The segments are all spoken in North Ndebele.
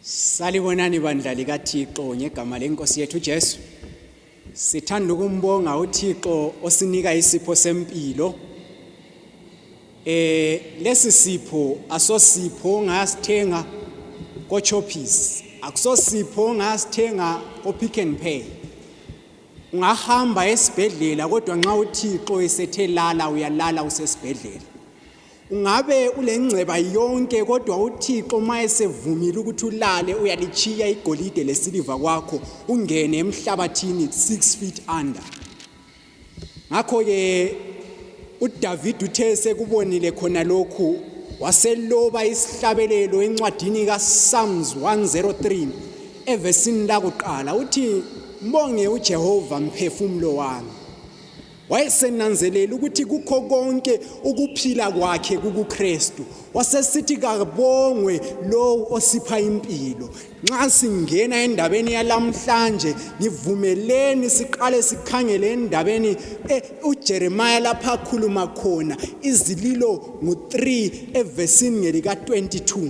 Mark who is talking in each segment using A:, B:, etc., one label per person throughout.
A: Salibonani bandla likaThixo ngegama lenkosi yethu Jesu. Sithanda ukumbonga uThixo osinika isipho sempilo. Eh lesi sipho asosipho ngasithenga koChoppies, akusosipho ngasithenga koPick n Pay. ungahamba esibhedlela kodwa nxa uthixo esethe lala uyalala usesibhedlela ungabe ulengceba yonke kodwa uthixo uma esevumile ukuthi ulale uyalitshiya igolide lesiliva kwakho ungene emhlabathini six feet under ngakho-ke udavide uthe sekubonile khona lokhu waseloba isihlabelelo encwadini kasalms 103 evesini lakuqala uthi mbonge uJehova mphefumulo wami wayesenanzelela ukuthi kukho konke ukuphila kwakhe kukuKristu wasesithi kabongwe lowo osipha impilo nxa singena endabeni yalamhlanje ngivumeleni siqale sikhangele endabeni eh, uJeremiah lapha akhuluma khona izililo ngo3 evesini ngelika 22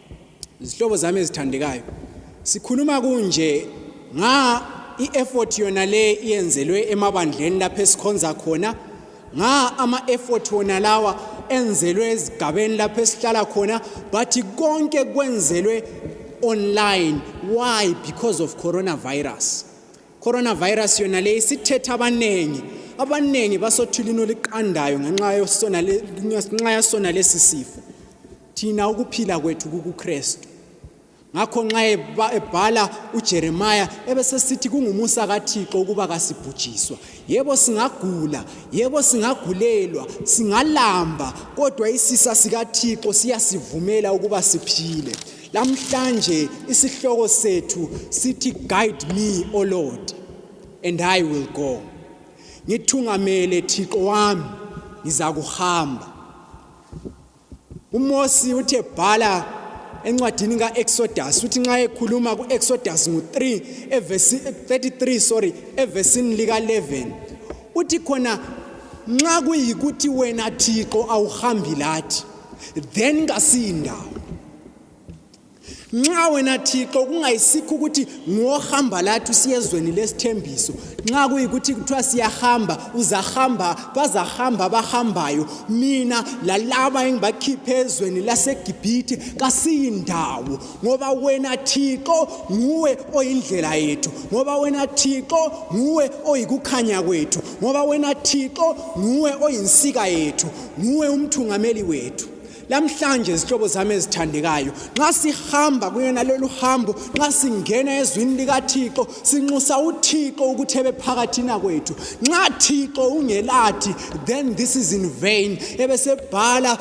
A: Izihlobo zami ezithandekayo, sikhuluma kunje nga i-effort yona le iyenzelwe emabandleni lapho esikhonza khona nga ama-effort wona lawa enzelwe ezigabeni lapho esihlala khona but konke kwenzelwe online why because of coronavirus coronavirus yona le isithetha abaningi abaningi basothulini oliqandayo ngenxa yasona lesi sifo thina ukuphila kwethu kukuKristu ngakho nxa ebhala uJeremiya ebesesithi kungumusa kaThixo ukuba kasibhujiswa yebo singagula yebo singagulelwa singalamba kodwa isisa sikaThixo siyasivumela ukuba siphile lamhlanje isihloko sethu sithi guide me o lord and i will go ngithungamele thixo wami ngizakuhamba uMosi uthe bhala encwadini kaExodus uthi nxa ekhuluma kuExodus ngo3 evesi 33 sorry evesini lika 11 uthi khona nxa kuyikuthi wena Thixo awuhambi lathi then kasindawo nxa wena thixo kungayisikho ukuthi ngohamba lathi usiyezweni lesithembiso nxa kuyikuthi kuthiwa siyahamba uzahamba bazahamba abahambayo mina lalaba engibakhiphe ezweni lasegibhithe kasiyindawo ngoba wena thixo nguwe oyindlela yethu ngoba wena thixo nguwe oyikukhanya kwethu ngoba wena thixo nguwe oyinsika yethu nguwe umthungameli wethu lamhlanje zihlobo zami ezithandekayo nxa sihamba kuyona lolu hambo nxa singena ezwini likathixo sinxusa uthixo ukuthi ebe phakathina kwethu nxa thixo ungelathi then this is in vain ebesebhala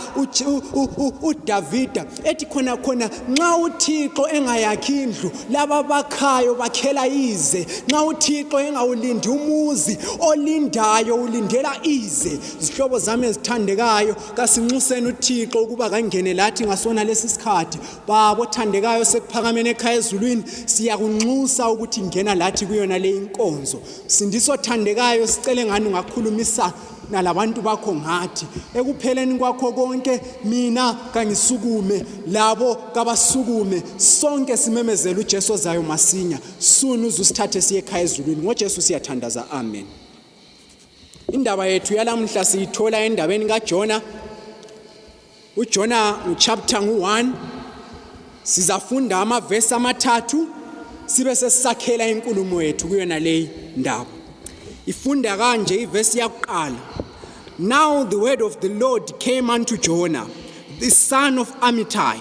A: udavida ethi khona khona nxa uthixo engayakhi indlu laba bakhayo bakhela ize nxa uthixo engawulindi umuzi olindayo ulindela ize zihlobo zami ezithandekayo kasinxuseni uthixo ukuba kangene lathi ngasona lesi sikhathi babo othandekayo sekuphakameni ekhaya ezulwini siyakunxusa ukuthi ngena lathi kuyona le inkonzo sindiso othandekayo sicele ngani ungakhulumisa nalabantu bakho ngathi ekupheleni kwakho konke mina kangisukume labo kabasukume sonke simemezela uJesu ozayo masinya sunu uzusithathe siye ekhaya ezulwini ngoJesu siyathandaza amen Indaba yethu yalamuhla siyithola endabeni kaJona. UJona nguchapter ngu-1 sizafunda amavesi amathathu sibe sesisakhela inkulumo yethu kuyona leyi ndaba. Ifunda kanje ivesi yakuqala. Now the word of the Lord came unto Jonah, the son of Amittai.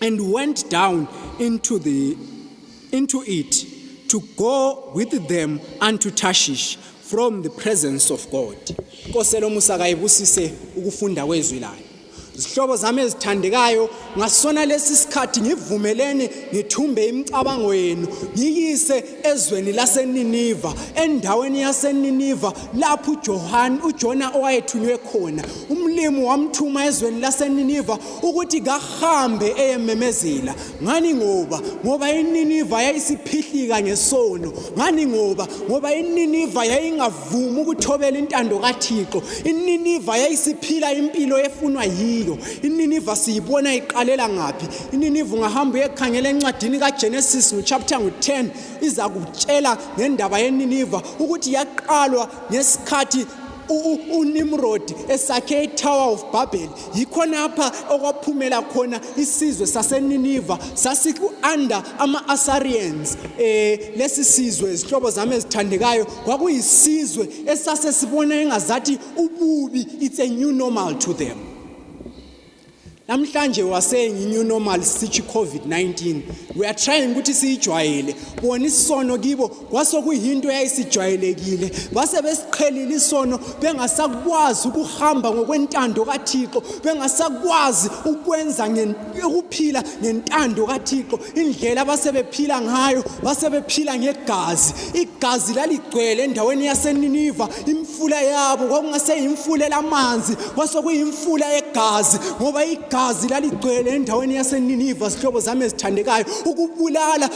A: and went down into the into it to go with them unto Tarshish from the presence of God Nkosi lomusa kayibusise ukufunda kwezwi layo zihlobo zami ezithandekayo ngasona lesi sikhathi ngivumeleni ngithumbe imicabango yenu ngiyise ezweni laseNiniva endaweni yaseNiniva lapho uJohane uJona owayethunywe khona umlimi wamthuma ezweni laseNiniva ukuthi kahambe eyememezela ngani ngoba ngoba ininiva yayisiphihlika ngesono ngani ngoba ngoba ininiva yayingavumi ukuthobela intando kathixo ininiva yayisiphila impilo efunwa yiyo ininiva siyibona iqalela ngaphi ininiva ungahamba uyekhangela encwadini kagenesis nguchapter ngu-10 iza kutshela ngendaba yeniniva ukuthi yaqalwa ngesikhathi unimrodi esakhe itower of babel yikhonapha okwaphumela khona isizwe saseniniva sasiku-under ama-asarians um eh, lesi sizwe izihlobo zami ezithandekayo kwakuyisizwe esase sibona engazathi ububi it's a new normal to them namhlanje waseying i-new normal sitshi i-covid-19 we are trying ukuthi siyijwayele bona isono kibo kwasokuyinto eyayisijwayelekile base besiqhelile isono bengasakwazi ukuhamba ngokwentando kaThixo bengasakwazi ukwenza ukuphila ngentando kaThixo indlela basebephila ngayo basebephila ngegazi igazi laligcwele endaweni yaseNiniva imfula yabo kwakungaseyimfula lamanzi kwasokuyimfula yegazi ngoba igazi laligcwele endaweni yaseNiniva sihlobo zami ezithandekayo ukubulala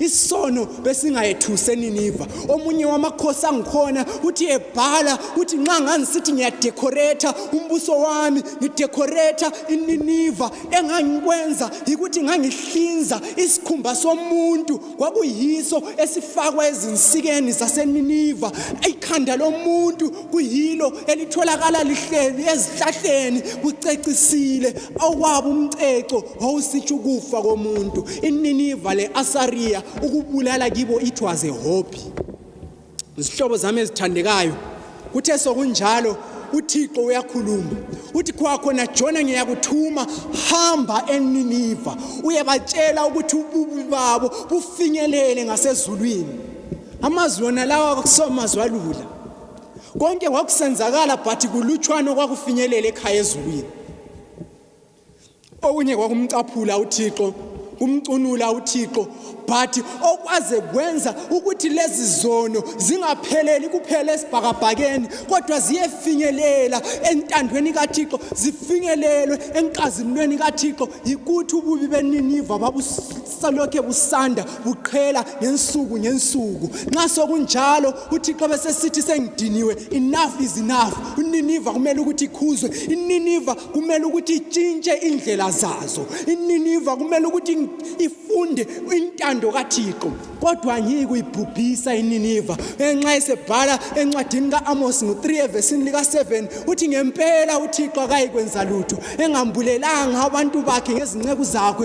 A: isono besingayethuse niniva omunye wamakhosi angikhona uthi ebhala uthi nxa ngangisithi ngiyadekhoretha umbuso wami ngidekhoretha ininiva engangikwenza yikuthi ngangihlinza isikhumba somuntu kwakuyiso esifakwa ezinsikeni zaseniniva ikhanda lomuntu kuyilo elitholakala lihleli ezihlahleni kucecisile awukwaba umceco wawusitsho ukufa komuntu ininiva le-asariya ukubulala kibo it was a hobby izihlobo zami ezithandekayo kuthe sokunjalo uthixo uyakhuluma uthi kwakhona jona ngiyakuthuma hamba eniniva uyebatshela ukuthi ububi babo bufinyelele ngasezulwini amazwi wona lawa kwakusamazwi alula konke kwakusenzakala but kulutshwana okwakufinyelela ekhaya ezulwini okunye kwakumcaphula uthixo kumcunula uthixo but okwaze kwenza ukuthi lezi zono zingapheleli kuphela esibhakabhakeni kodwa ziyefinyelela entandweni kathixo zifinyelelwe enkazimulweni kathixo yikuthi ububi beniniva babusalokhe busanda buqhela ngensuku ngensuku nxa sokunjalo uthixo besesithi sengidiniwe enough is enough uniniva kumele ukuthi ikhuzwe ininiva kumele ukuthi itshintshe indlela zazo ininiva kumele ukuthi ifunde intando kathixo kodwa angiyi kuyibhubhisa ininiva enxa esebhala encwadini ka-amosi ngo-3 evesini lika-7 uthi ngempela uthixo akayikwenza lutho engambulelanga abantu bakhe ngezinceku zakhe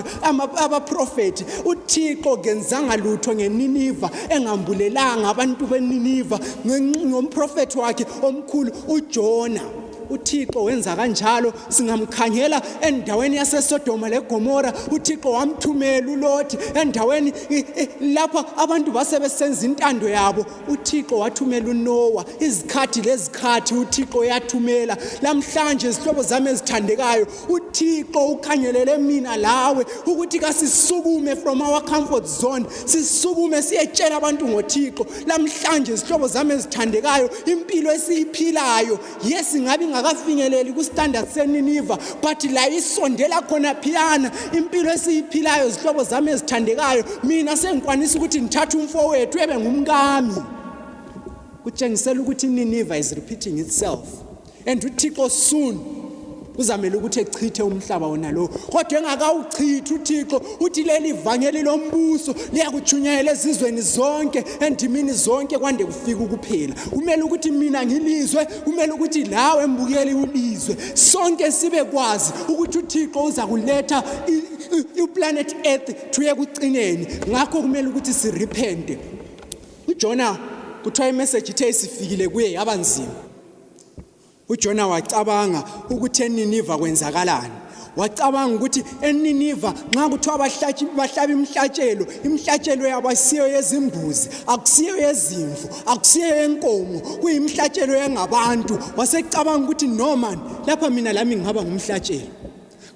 A: abaprofethi uthixo kenzanga lutho ngeniniva engambulelanga abantu beniniva ngomprofethi wakhe omkhulu ujona uthixo wenza kanjalo singamkhangela endaweni yasesodoma legomora uthixo wamthumela ulothi endaweni lapho abantu base besenza intando yabo uthixo wathumela unowa izikhathi lezikhathi uthixo yathumela lamhlanje izihlobo zami ezithandekayo uthixo ukhangelele mina lawe ukuthi kasisukume from our comfort zone sisukume siyetshela abantu ngothixo lamhlanje izihlobo zami ezithandekayo impilo esiyiphilayo yes ngabe ingakafinyeleli kustandard seniniva but layo isondela khona phiyana impilo esiyiphilayo izihlobo zami ezithandekayo mina sengikwanisa ukuthi ngithathe umfowethu ebe ngumkami kutshengisela ukuthi ininiva is repeating itself and uthixo soon kuzamele ukuthi echithe umhlaba wona lowo kodwa engakawuchithi uthixo uthi leli vangeli lombuso liyakutshunyayela ezizweni zonke endimini zonke kwande kufika ukuphela kumele ukuthi mina ngilizwe kumele ukuthi lawe mbukeli ulizwe sonke sibe kwazi ukuthi uthixo uza kuletha iplanet earth thuye kucineni ngakho kumele ukuthi sirepente ujona kuthiwa imeseji ithe isifikile kuye yaba nzima ujona wacabanga ukuthi eniniva kwenzakalani wacabanga ukuthi eniniva nxa kuthiwa bahlaba imhlatshelo imhlatshelo yabo asiyo yezimbuzi akusiyo yezimvu akusiyo yenkomo kuyimhlatshelo yengabantu wasecabanga ukuthi no man lapha mina lami ngihaba ngumhlatshelo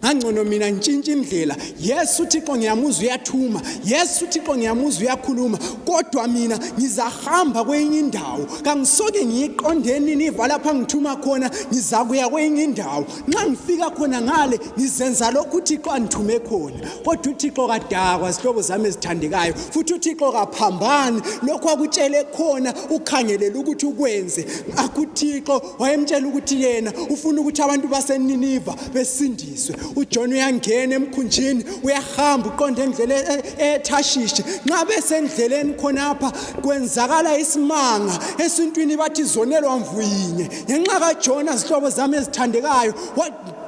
A: ngangcono mina ntshintshe indlela yes uthixo ngiyamuzwa uyathuma yes uthixo ngiyamuzwa uyakhuluma kodwa mina ngizahamba kwenye indawo kangisoke ngiyiqonde nini iva lapha ngithuma khona ngizakuya kwenye indawo nxa ngifika khona ngale ngizenza lokhu uthixo andithume khona kodwa uthixo kadakwa zihlobo zami ezithandekayo futhi uthixo kaphambani lokhu akutshele khona ukhangelele ukuthi ukwenze akuthixo wayemtshela ukuthi yena ufuna ukuthi abantu baseniniva besindiswe ujona uyangena emkhunjini uyahamba uqonda endlela e-, e-, ethashishi nxa besendleleni khonapha kwenzakala isimanga esintwini bathi zonelwa mvuyinye ngenxa kajona zihlobo zami ezithandekayo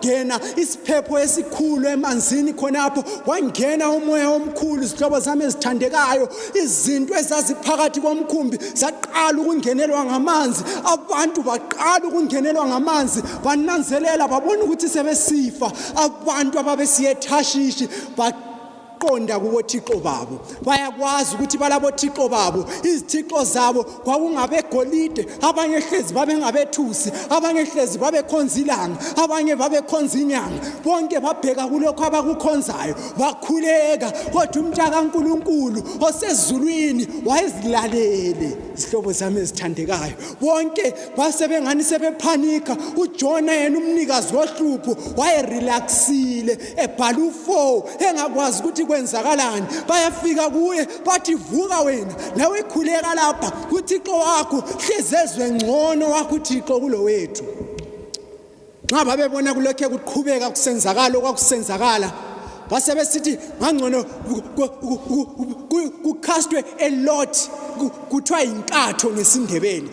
A: ngena isiphepho esikhulu emanzini khonapho wangena umoya omkhulu izihlobo zami ezithandekayo izinto ezaziphakathi komkhumbi zaqala ukungenelwa ngamanzi abantu baqala ukungenelwa ngamanzi bananzelela babona ukuthi sebesifa abantu ababesiyethashishi qonda kubothixo babo bayakwazi ukuthi balabothixo babo izithixo zabo kwakungabegolide abanye hlezi babengabethusi abanye hlezi babekhonza ilanga abanye babekhonza inyanga bonke babheka kulokho abakukhonzayo bakhuleka kodwa umntakankulunkulu osezulwini wayezilalele izihlobo zami ezithandekayo bonke basebengani sebephanika ujona yena umnikazi wohlupho wayerelaxile ebhala ufo engakwazi ukuthi kwenzakalani bayafika kuye bathi vuka wena nawe khuleka lapha kuthixo wakho hlezi ezwe ngcono wakho uthixo kulo wethu nxa babebona kulokhe kuqhubeka kusenzakala okwakusenzakala base besithi ngangcono kucastwe elot kuthiwa yinkatho ngesindebeni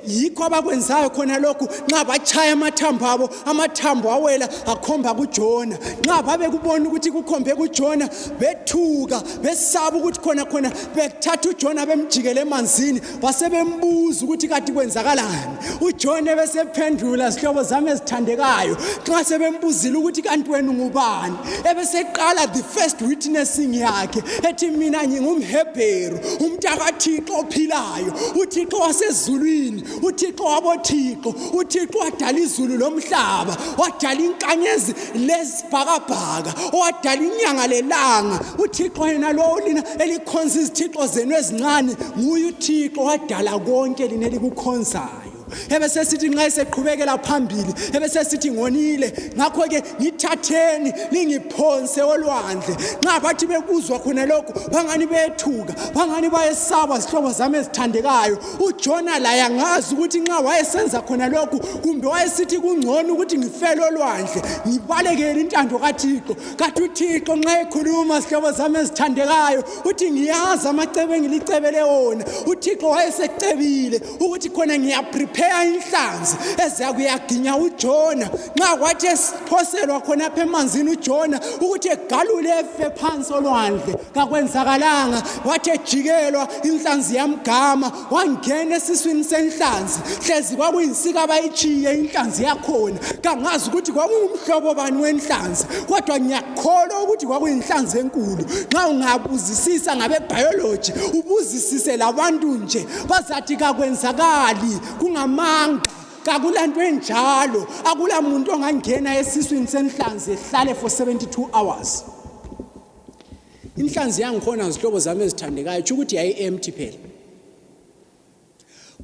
A: yikho abakwenzayo khona lokhu nxa batshaya amathambo abo amathambo awela akhomba kujona nxa babekubona ukuthi kukhombe kujona bethuka besaba ukuthi khona khona bethatha ujona bemjikele emanzini basebembuza ukuthi kati kwenzakalani ujona ebesephendula zihlobo zami ezithandekayo nxa sebembuzile ukuthi kanti wena ungubani ebeseqala the first witnessing yakhe ethi mina ngingumhebheru umntakathixo ophilayo ayo uthixo wasezulwini uthixo wabothixo uthixo wadala izulu lomhlaba wadala inkanyezi lezibhakabhaka wadala inyanga lelanga uthixo yena lowo lina elikhonza izithixo zenu ezincane nguye uthixo wadala konke lina elikukhonzayo ebesesithi nxa eseqhubekela phambili ebesesithi ngonile ngakho-ke ngithatheni ningiphonse olwandle nxa bathi bekuzwa khona lokhu bangani bethuka bangani bayesaba zihlobo zami ezithandekayo ujona laye angazi ukuthi nxa wayesenza khona lokhu kumbe wayesithi kungcono ukuthi ngifele olwandle ngibalekele intando kathixo kathi uthixo nxa ekhuluma zihlobo zami ezithandekayo uthi ngiyazi amacebo engilicebele wona uthixo wayesecebile ukuthi khona ngiyaprepare inhlanzi eziya kuyaginya ujona nxa kwathi esiphoselwa khona apha emanzini ujona ukuthi egalule efe phansi olwandle kakwenzakalanga wathi ejikelwa inhlanzi yamgama wangena esiswini senhlanzi hlezi kwakuyinsika bayitshiye inhlanzi yakhona kangazi ukuthi kwakungumhlobo bani wenhlanzi kodwa ngiyakholwa ukuthi kwakuyinhlanzi enkulu nxa ungabuzisisa ngabebhayoloji ubuzisise labantu nje bazathi kakwenzakali kungamanga kakulanto enjalo akula muntu ongangena esiswini senhlanzi ehlale for 72 hours inhlanzi yangikhona zihlobo zami ezithandekayo tsho ukuthi yayi-empty phela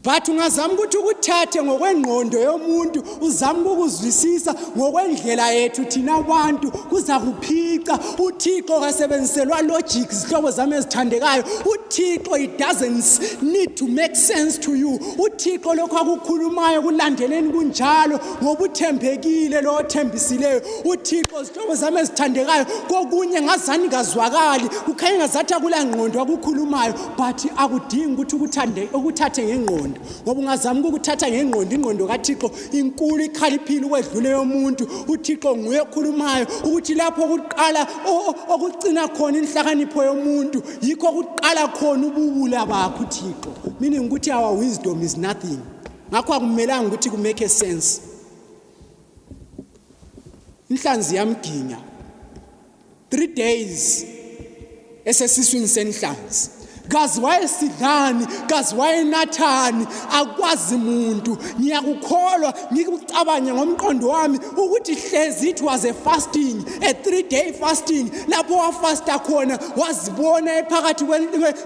A: but ungazama ukuthi ukuthathe ngokwengqondo yomuntu uzama ukukuzwisisa ngokwendlela yethu thina abantu kuzakuphica uthixo kasebenziselwa logic zihlobo zami ezithandekayo uthixo it doesn't need to make sense to you uthixo lokho akukhulumayo kulandeleni kunjalo ngoba uthembekile lo othembisileyo uthixo zihlobo zami ezithandekayo kokunye ngazani kazwakali kukhanye ngazathi akulangqondo akukhulumayo but akudingi ukuthi ukuthathe ngengqondo ngoba ungazama ukukuthatha ngengqondo ingqondo kathixo inkulu ikhaliphile ukwedlule yomuntu uthixo nguye okhulumayo ukuthi lapho kuqala okucina khona inhlakanipho yomuntu yikho kuqala khona ubuwula bakho uthixo meaning ukuthi our wisdom is nothing ngakho akumelanga ukuthi kumake a sense inhlanzi yamginya three days esesiswini senhlanzi kazi wayesidlani kazi wayenathani akwazi muntu ngiyakukholwa ngikucabange ngomqondo wami ukuthi hlezi it was a fasting a three day fasting lapho wafasta khona wazibona ephakathi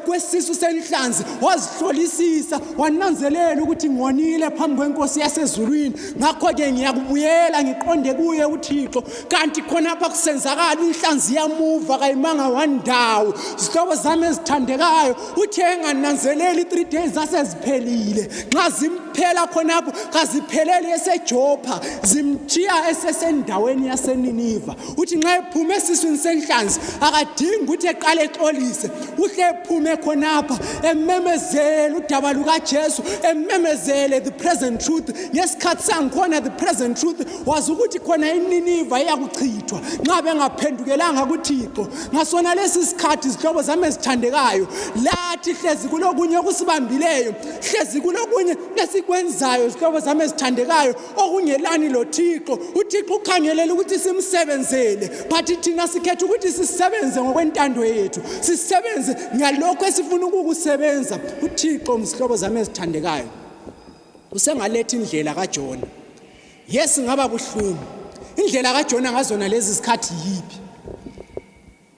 A: kwesisu senhlanzi wazihlolisisa wananzelela ukuthi ngonile phambi kwenkosi yasezulwini ngakho-ke ngiyakubuyela ngiqonde kuye uthixo kanti khonapha kusenzakala inhlanzi yamuva kayimanga wandawo zihlobo zami ezithandekayo uthe engananzeleli i-three days zaseziphelile nxa zimphela khonapho kazipheleli esejopha zimtshiya esesendaweni yaseniniva uthi nxa ephume esiswini senhlanzi akadingi ukuthi eqale exolise uhle ephume khonapha ememezele udaba lukajesu ememezele the present truth ngesikhathi sangikhona the present truth wazi ukuthi khona ininiva iyakuchithwa nxa bengaphendukelanga kuthixo ngasona lesi sikhathi zihlobo zami ezithandekayo lathi hlezi kulokunye okusibambileyo hlezi kulokunye esikwenzayo zihlobo zami ezithandekayo okungelani lothixo uthixo ukhangelela ukuthi simsebenzele but thina sikhetha ukuthi sisebenze ngokwentando yethu sisebenze ngalokho esifuna ukukusebenza uthixo mzihlobo zami ezithandekayo usengalethi indlela kajona yesi ngaba buhlungu indlela kajona ngazona lezi zikhathi yiphi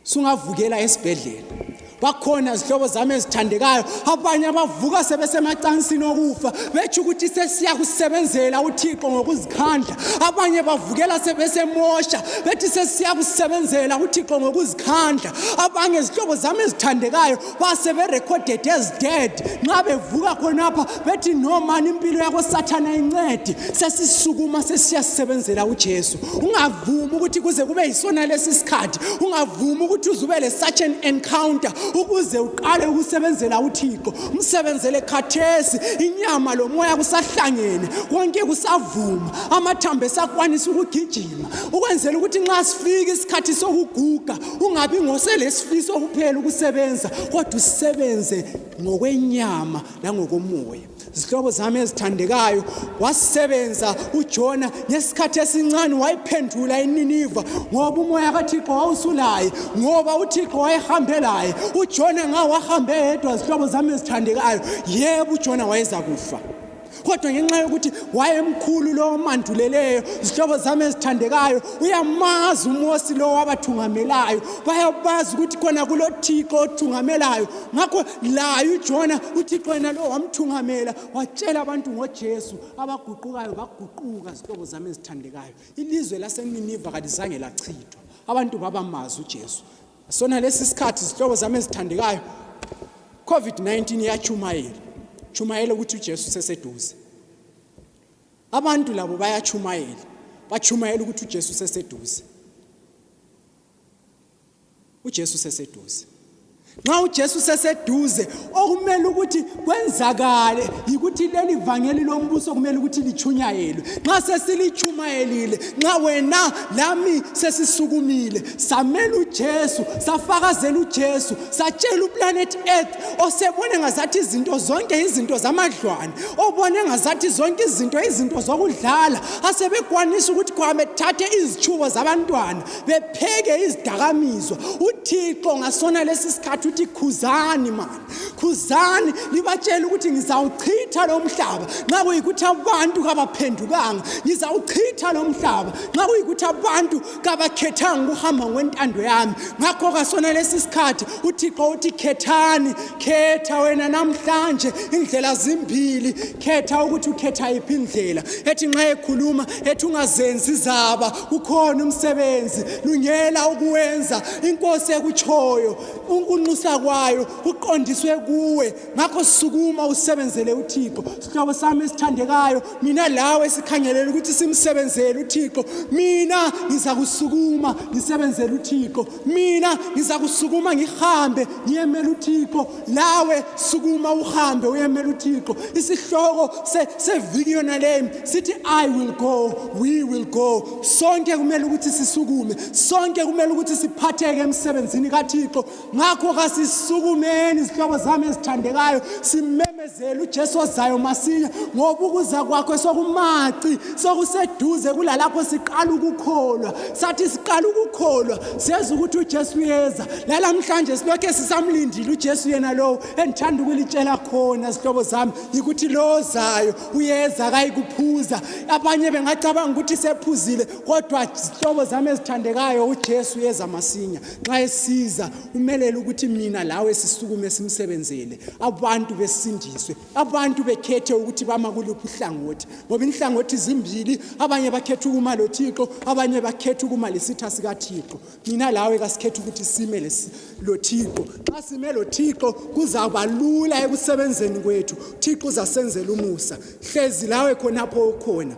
A: sungavukela esibhedlela bakhona zihlobo zami ezithandekayo abanye abavuka sebesemacansini okufa betsho ukuthi sesiyakusebenzela uthixo ngokuzikhandla abanye bavukela sebesemosha bethi sesiyakusebenzela uthixo ngokuzikhandla abanye zihlobo zami ezithandekayo basebe recorded as dead nxa bevuka khonapha bethi no mani impilo yakho sathana incedi sesisukuma sesiyasebenzela uJesu ungavumi ukuthi kuze kube yisona lesi sikhathi ungavumi ukuthi uze ube le such an encounter ukuze uqale ukusebenzela uThixo umsebenzele khathesi inyama lomoya kusahlangene konke kusavuma amathambo esakwanisa ukugijima ukwenzela ukuthi nxa sifika isikhathi sokuguga ungabi ngoselesifiso kuphela ukusebenza kodwa usebenze ngokwenyama langokomoya zihlobo zami ezithandekayo wasebenza ujona ngesikhathi esincane wayiphendula ininiva ngoba umoya kathixo wawusulaye ngoba uthixo wayehambe laye ujona ngawo wahambe yedwa zihlobo zami ezithandekayo yebo ujona wayeza kufa kodwa ngenxa yokuthi wayemkhulu lowo omanduleleyo zihlobo zami ezithandekayo uyamazi umosi lowo wabathungamelayo bayabazi ukuthi khona kulothixo othungamelayo ngakho laye ujona uthixo yena lowo wamthungamela watshela abantu ngojesu abaguqukayo baguquka zihlobo zami ezithandekayo ilizwe laseniniva kalizange lachithwa abantu babamazi ujesu sona lesi sikhathi zihlobo zami ezithandekayo covid-19 iyatshumayela tshumayela ukuthi ujesu useseduze abantu labo bayatshumayela batshumayela ukuthi ujesu useseduze ujesu useseduze nxa ujesu useseduze okumele ukuthi kwenzakale yikuthi leli vangeli lombuso kumele ukuthi lichunyayelwe nxa sesilichumayelile nxa wena lami sesisukumile samela uJesu safakazela uJesu satshela uplanet earth osebone ngazathi izinto zonke izinto zamadlwane obone ngazathi zonke izinto izinto zokudlala asebekwanisa ukuthi kwamethathe izichubo zabantwana bepheke izidakamizwa uthixo ngasona lesi sikhathi uthi khuzani mani khuzani libatshela ukuthi ngizawuchitha lo mhlaba nxa kuyikuthi abantu kabaphendukanga ngizawuchitha lo mhlaba nxa kuyikuthi abantu kabakhethanga ukuhamba ngokwentando yami ngakho kasona lesi sikhathi uthixo uthi khethani khetha wena namhlanje indlela zimbili khetha ukuthi ukhetha yiphi indlela ethi nxa ekhuluma ethi ungazenzi zaba kukhona umsebenzi lungela ukuwenza inkosi ekutshoyo unkunxusa kwayo kuqondiswe kuwe ngakho sukuma usebenzele uthixo sihlobo sami esithandekayo mina lawe sikhangelele ukuthi simsebenzele uthixo mina ngiza kusukuma ngisebenzele uthixo mina ngiza kusukuma ngihambe ngiyemela uthixo nawe sukuma uhambe uyemela uthixo isihloko seviki yona leyo sithi i will go we will go sonke kumele ukuthi sisukume sonke kumele ukuthi siphatheke emsebenzini kathixo ngakho kasisukumeni izihloko zami ezithandekayo simeme Zela uJesu ozayo masinya ngoba ukuza kwakhe sokumaci sokuseduze kulalapho siqala ukukholwa sathi siqala ukukholwa seza ukuthi uJesu uyeza lalamhlanje silokhe sisamlindile uJesu yena lowo endithanda ukulitshela khona zihlobo zami yikuthi lo ozayo uyeza kayikuphuza abanye bengacabanga ukuthi sephuzile kodwa zihlobo zami ezithandekayo uJesu uyeza masinya nxa esiza kumelele ukuthi mina lawe sisukume simsebenzele abantu besindiswe abantu bekhethe ukuthi bama kuluphi uhlangothi ngoba inhlangothi zimbili abanye bakhetha ukuma lothixo abanye bakhetha ukuma lesitha sikathixo mina lawe kasikhetha ukuthi sime lothixo xa sime lothixo kuzaba lula ekusebenzeni kwethu thixo uzasenzela umusa hlezi lawe khonapho ukhona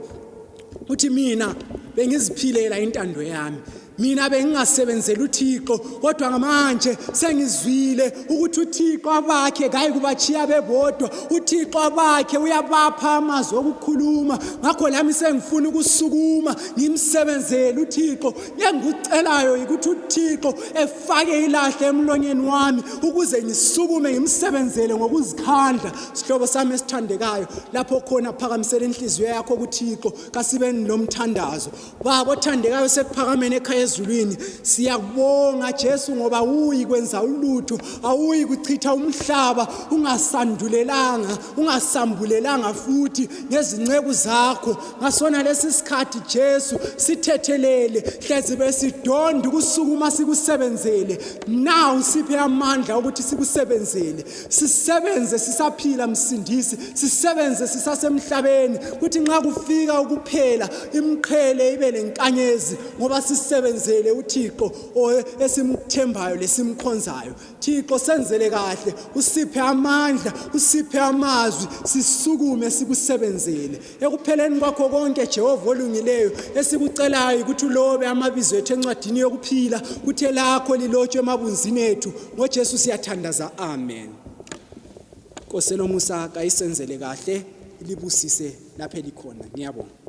A: uthi mina bengiziphilela intando yami mina bengingasebenzeli uthixo kodwa ngamanje sengizwile ukuthi uthixo abakhe kayi kubachiya bebodwa uthixo abakhe uyabapha amazwi okukhuluma ngakho lami sengifuna ukusukuma ngimsebenzele uthixo engikucelayo yikuthi uthixo efake ilahle emlonyeni wami ukuze ngisukume ngimsebenzele ngokuzikhandla sihlobo sami esithandekayo lapho khona phakamisela inhliziyo yakho kuthixo kasibeni lomthandazo baba othandekayo sekuphakameni ekhaya ezulwini siyakubonga jesu ngoba awuyi kwenza ulutho awuyi kuchitha umhlaba ungasandulelanga ungasambulelanga futhi ngezinceku zakho ngasona lesi sikhathi jesu sithethelele hlezi besidonda ukusukuma sikusebenzele nawu siphe amandla ukuthi sikusebenzele sisebenze sisaphila msindisi sisebenze sisasemhlabeni kuthi nxa kufika ukuphela imqhele ibe lenkanyezi ngoba sisebenzele uthixo esimthembayo lesimkhonzayo thixo senzele kahle usiphe amandla usiphe amazwi sisukume sikusebenzele ekupheleni kwakho konke jehova olungileyo esikucelayo ukuthi ulobe amabizo ethu encwadini yokuphila kuthe lakho lilotshwe emabunzini ethu ngojesu siyathandaza amen nkosi elomusa kayisenzele kahle ilibusise lapho elikhona ngiyabonga